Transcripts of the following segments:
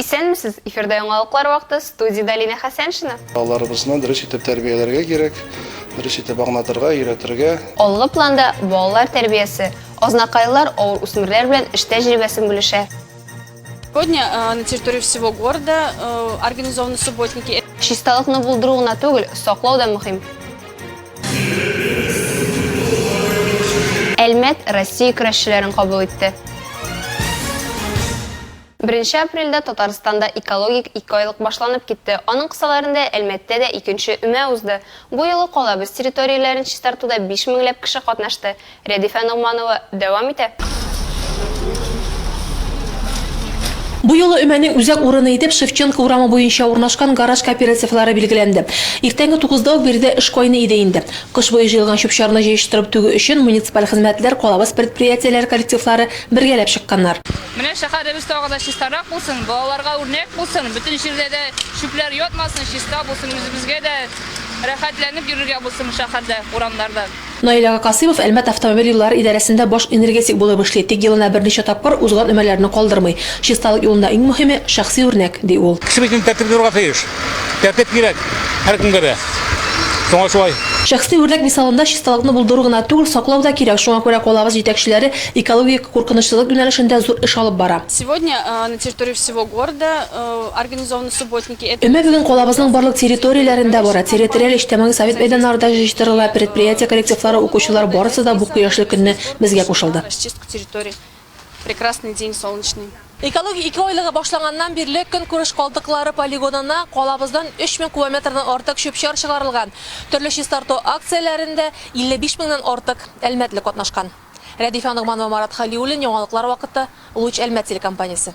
Исәнмесез! Эфирда яңалыклар вакыты, студиядә Лина Хәсәншина. Балаларыбызны дөрес итеп тәрбияләргә кирәк, дөрес итеп аңлатырга, өйрәтергә. Алгы планда балалар тәрбиясе, азнакайлылар авыр үсмерләр белән эш тәҗрибәсен бүлешә. Сегодня э, на территории всего города э, организованы субботники. Чисталыкны булдыру гына түгел, саклау да мөһим. Әлмәт Россия көрәшчеләрен кабул итте. 1 апрельдә Татарстанда экологик икойлык башланып китте. Аның кысаларында Әлмәттә дә икенче өмә узды. Бу юлы калабыз территорияләрен чистартуда 5 меңләп кеше катнашты. Рәдифә Ногманова дәвам итә. Бу юлы Өмәнең үзәк урыны итеп Шевченко урамы буенча урнашкан гараж кооперативлары билгеләнде. Иртәнге тугызда ук биредә эш кайный иде инде. Кыш буе җыелган чүп-чарны җыештырып түгү өчен муниципаль хезмәтләр, калабыз предприятиеләре коллективлары бергәләп чыкканнар. Менә шәһәребез тагы да чистарак булсын, балаларга үрнәк булсын, бөтен җирдә дә чүпләр ятмасын, чиста булсын, үзебезгә дә рәхәтләнеп йөрергә булсын шәһәрдә, урамнарда. Наил ага Касыймов Әлмәт автомобиль юллары идарәсендә баш энергетик булып эшли, тик елына берничә тапкыр узган өмәләрне калдырмый. Чисталык юлында иң мөһиме, шәхси үрнәк, ди ул. Кеше бит инде тәртипле булырга тиеш. Тәртип кирәк һәркемгә дә. Шуңа шулай. Шәхси үрнәк мисалында чисталыкны булдыру гына түгел, саклау да кирәк, шуңа күрә калабыз җитәкчеләре экологик куркынычсызлык юнәлешендә зур эш алып бара. Сегодня на территории всего города организованы субботники. Өмә бүген калабызның барлык территорияләрендә бара. Территориаль, иҗтимагый, совет мәйданнары да җыештырыла, предприятие коллективлары, укучылар, барысы да бу кояшлы көнне безгә кушылды. Расчистка территорий. Прекрасный день солнечный. Экология ике айлыгы башланганнан бирле көнкүреш калдыклары полигонына калабыздан 3000 кубометрдан артык чүп-чар чыгарылган. Төрле чистарту акцияләрендә 55 меңнән артык әлмәтле катнашкан. Рәдифә Ногманова, Марат Хәлиуллин, яңалыклар вакыты, Луч Әлмәт телекомпаниясе.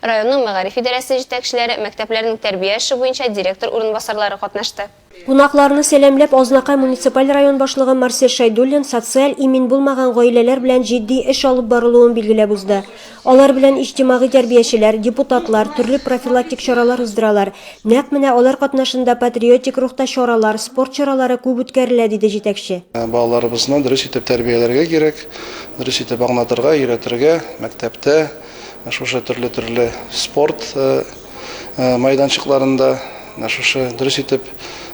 Районның мәгариф идарәсе җитәкчеләре, мәктәпләрнең тәрбия эше буенча директор урынбасарлары катнашты. Кунакларны сәламләп, Азнакай муниципаль район башлыгы Марсель Шәйдуллин социаль имин булмаган гаиләләр белән җитди эш алып барылуын билгеләп узды. Алар белән иҗтимагый тәрбиячеләр, депутатлар төрле профилактик чаралар уздыралар, нәкъ менә алар катнашында патриотик рухта чаралар, спорт чаралары күп үткәрелә, диде җитәкче. Балаларыбызны дөрес итеп тәрбияләргә кирәк, дөрес итеп аңлатырга, өйрәтергә, мәктәптә, Шушы төрле-төрле спорт майданчыкларында менә шушы дөрес итеп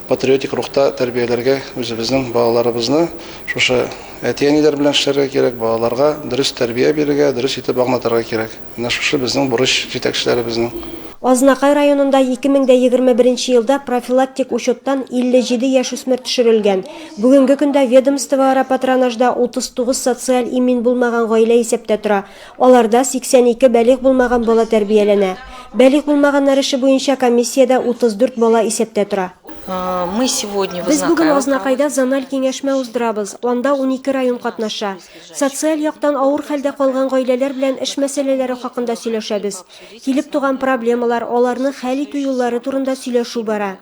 патриотик рухта тәрбияләргә үзебезнең балаларыбызны шушы әти-әниләр белән эшләргә кирәк, балаларга дөрес тәрбия бирергә, дөрес итеп аңлатырга кирәк. Менә шушы безнең бурыч җитәкчеләребезнең. Азнакай районында 2021 елда профилактик учеттан 57 яшүсмер төшерелгән. Бүгенге көндә ведомствоара патронажда 39 социаль имин булмаган гаилә исәптә тора. Аларда 82 бәлигъ булмаган бала тәрбияләнә. Бәлигъ булмаганнар эше буенча комиссиядә 34 бала исәптә тора. Без бүген Азнакайда зональ киңәшмә уздырабыз, анда унике район катнаша. Социаль яктан авыр хәлдә калган гаиләләр белән эш мәсьәләләре хакында сөйләшәбез. Килеп туган проблемалар, аларны хәл итү юллары турында сөйләшү бара.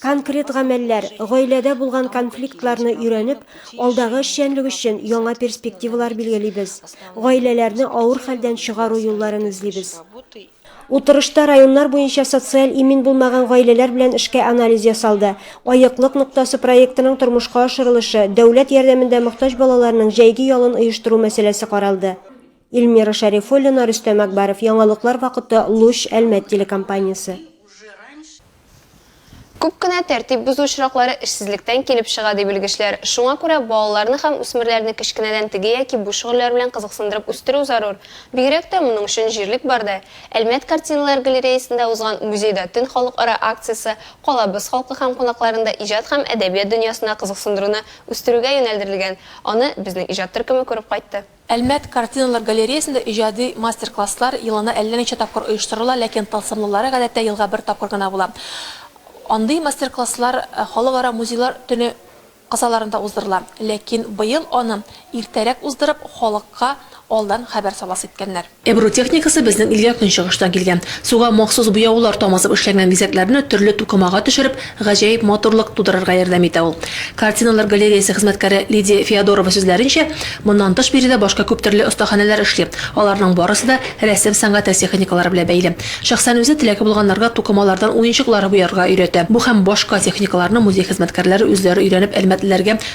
Конкрет гамәлләр, гаиләдә булган конфликтларны өйрәнеп, алдагы эшчәнлек өчен яңа перспективалар билгелибез, гаиләләрне авыр хәлдән чыгару юлларын эзлибез. Утырышта районнар буенча социаль имин булмаган гаиләләр белән эшкә анализ ясалды, Аеклык ноктасы проектының тормышка ашырылышы, дәүләт ярдәмендә мохтаҗ балаларның җәйге ялын оештыру мәсьәләсе каралды. Ильмира Шәрифуллина, Рөстәм Әкбаров, Яңалыклар вакыты, Луч, Әлмәт телекомпаниясе. Күп кенә тәртип бозу очраклары эшсезлектән килеп чыга, ди белгечләр. Шуңа күрә балаларны һәм үсмерләрне кечкенәдән теге яки бу шөгыльләр белән кызыксындырып үстерү зарур. Бигрәк тә моның өчен җирлек бар да. Әлмәт картиналар галереясендә узган Музейда төн халыкара акциясе калабыз халкы һәм кунакларын да иҗат һәм әдәбият дөньясына кызыксындыруны үстерүгә юнәлдерелгән. Аны безнең иҗат төркеме күреп кайтты. Әлмәт картиналар галереясендә иҗади мастер-класслар елына әллә ничә тапкыр оештырыла, ләкин тылсымлылары гадәттә елга бер тапкыр гына була. Андый мастер-класслар Халыкара музейлар төне кысаларында уздырыла, ләкин быел аны иртәрәк уздырып, халыкка алдан хәбәр саласы иткәннәр. Ebru техникасы безнең илгә көнчыгыштан килгән. Суга махсус буяулар тамызып эшләнгән бизәкләрне төрле тукымага төшереп, гаҗәеп матурлык тудырырга ярдәм итә ул. Картиналар галереясе хезмәткәре Лидия Феодорова сүзләренчә, моннан тыш биредә башка күптөрле остаханәләр эшли, аларның барысы да рәсем сәнгате техникалары белән бәйле. Шәхсән үзе теләге булганнарга тукымалардан уенчыклар буярга өйрәтә. Бу һәм башка техникаларны музей хезмәткәрләре үзләре өйрәнеп әлмәтлеләргә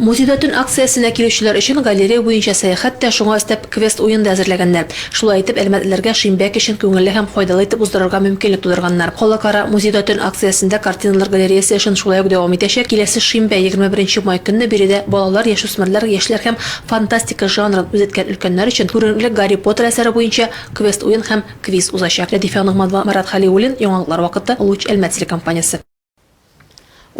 Музейда төн акциясенә килүчеләр өчен галерея буенча сәяхәт тә, шуңа өстәп, квест-уен да әзерләгәннәр. Шулай итеп, әлмәтлеләргә шимбә кичен күңелле һәм файдалы итеп уздырырга мөмкинлек тудырганнар. Халыкара Музейда төн акциясендә картиналар галереясе эшен шулай ук дәвам итәчәк, киләсе шимбә, егерме беренче май көнне биредә балалар, яшүсмерләр, яшьләр һәм фантастика жанрын үзеткән өлкәннәр өчен күренекле Гарри Поттер әсәре буенча квест-уен һәм квиз узачак. Рәдифә Ногманова, Марат Хәлиуллин, Яңалыклар вакыты, Луч, Әлмәт телекомпаниясе.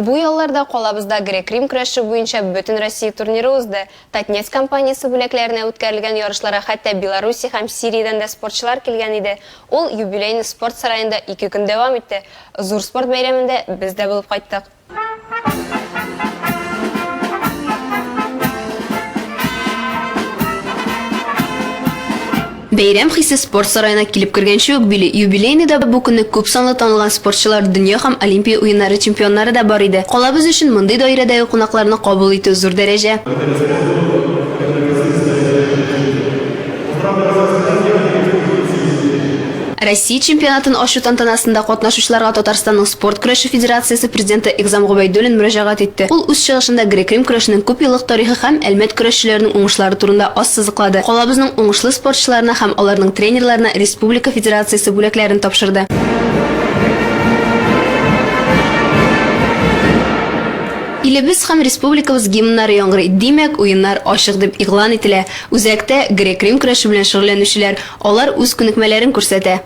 Бу ялларда калабызда грек-рим көрәше буенча Бөтенроссия турниры узды. Татнефть компаниясе бүләкләренә үткәрелгән ярышларга хәтта Белоруссия һәм Сириядән дә спортчылар килгән иде. Ул юбилейный спорт сараенда ике көн дәвам итте. Зур спорт бәйрәмендә без дә булып кайттык. Бәйрәм хисе спорт сараена килеп кергәнче үк били. Юбилейныйда бу көнне күп санлы танылган спортчылар, дөнья һәм Олимпия уеннары чемпионнары да бар иде. Калабыз өчен мондый даирәдәге кунакларны кабул итү, зур дәрәҗә. Россия чемпионатын ачу тантанасында катнашучыларга Татарстанның Спорт көрәше федерациясе президенты Игъзам Гобәйдуллин мөрәҗәгать итте. Ул үз чыгышында грек-рим көрәшенең күп еллык тарихы һәм Әлмәт көрәшчеләренең уңышлары турында ассызыклады, калабызның уңышлы спортчыларына һәм аларның тренерларына республика федерациясе бүләкләрен тапшырды. Илебез һәм республикабыз гимннары яңгырый, димәк, уеннар ачык дип игълан ителә. Үзәктә, грек-рим көрәше белән шөгыльләнүчеләр, Алар үз күнекмәләрен күрсәтә.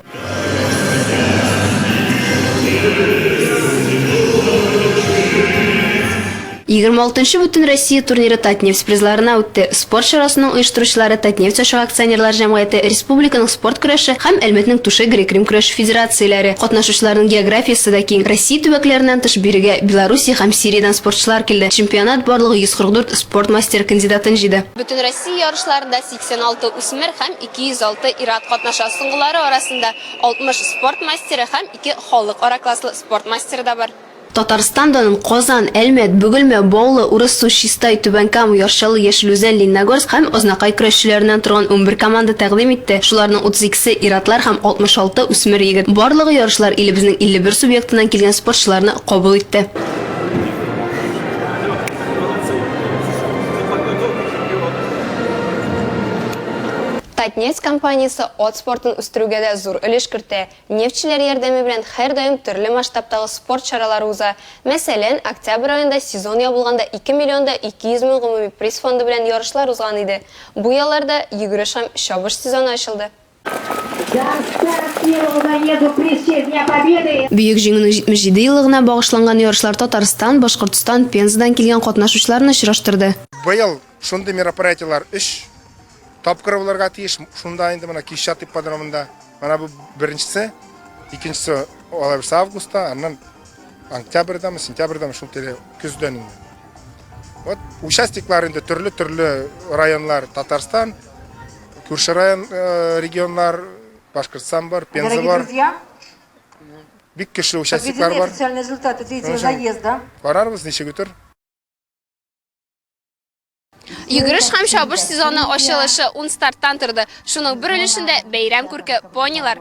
Егерме алтынчы Бөтенроссия турниры Татнефть призларына үтте. Спорт чарасының оештыручылары Татнефть ачык акционерлар җәмгыяте, республиканың спорт көрәше һәм Әлмәтнең Туше грек-рим көрәше федерацияләре. Катнашучыларның географиясе дә киң. Россия төбәкләреннән тыш бирегә Белоруссия һәм Сириядән спортчылар килде. Чемпионат барлыгы 144 спорт мастеры кандидатын җыйды. Бөтенроссия ярышларында 186 үсмер һәм 206 ир-ат катнаша. Соңгылары арасында 60 спорт мастеры һәм ике халыкара класслы спорт мастеры да бар. Татарстан данын Казан, Әлмәт, Бөгелмә, Баулы, Урыссу, Чистай, Түбән Кама, Яр-Чаллы, Яшел Үзән, Лениногорск һәм Азнакай көрәшчеләреннән торган унбер команда тәкъдим итте, шуларның 32се, ир-атлар һәм 66 үсмер егет. Барлыгы ярышлар илебезнең 51 субъектыннан килгән спортчыларны кабул итте. Татнефть компаниясе ат спортын үстерүгә дә зур өлеш кертә. Нефтьчеләр ярдәме белән һәрдаим төрле масштабтагы спорт чаралары уза. Мәсәлән, октябрь аенда сезон ябылганда ике миллион да ике йөз мең гомуми приз фонды белән ярышлар узган иде. Бу ялларда йөгереш һәм чабыш сезоны ачылды. Бөек Җиңүнең 77 еллыгына багышланган ярышлар Татарстан, Башкортстан, Пензадан килгән катнашучыларны очраштырды. Быел шундый мероприятиеләр өч тапкыр булырга тиеш. Шунда инде менә Кишат ипподромында. Менә бу беренчесе, икенчесе алай булса августта, аннан октябрьдәме, сентябрьдәме шул тирә көздән инде. Вот участниклар инде төрле-төрле районнар Татарстан, Күрше район регионнар, Башкортстан бар, Пенза бар. Бик көчле участниклар бар. Официальный результаты третьего заезда. Карарбыз, ничек үтер. Йөгереш һәм чабыш сезоны ачылышы ун старттан торды. Шуның бер өлешендә бәйрәм күрке понилар.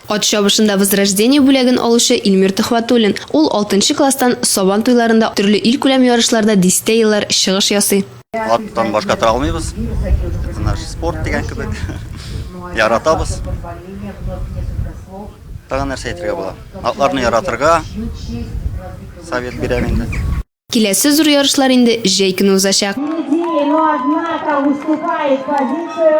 Ат чабышында Возрождение бүләген алучы Илмир Төхвәтуллин. Ул алтынчы класстан Сабан туйларында, төрле илкүләм ярышларда дистә еллар чыгыш ясый. Аттан башка тора алмыйбыз. Это наш спорт дигән кебек. Яратабыз. Тагын нәрсә әйтергә була? Атларны яратырга совет бирәм инде. Киләсе зур ярышлар инде җәй көне узачак. Идеи, но однако уступает позицию.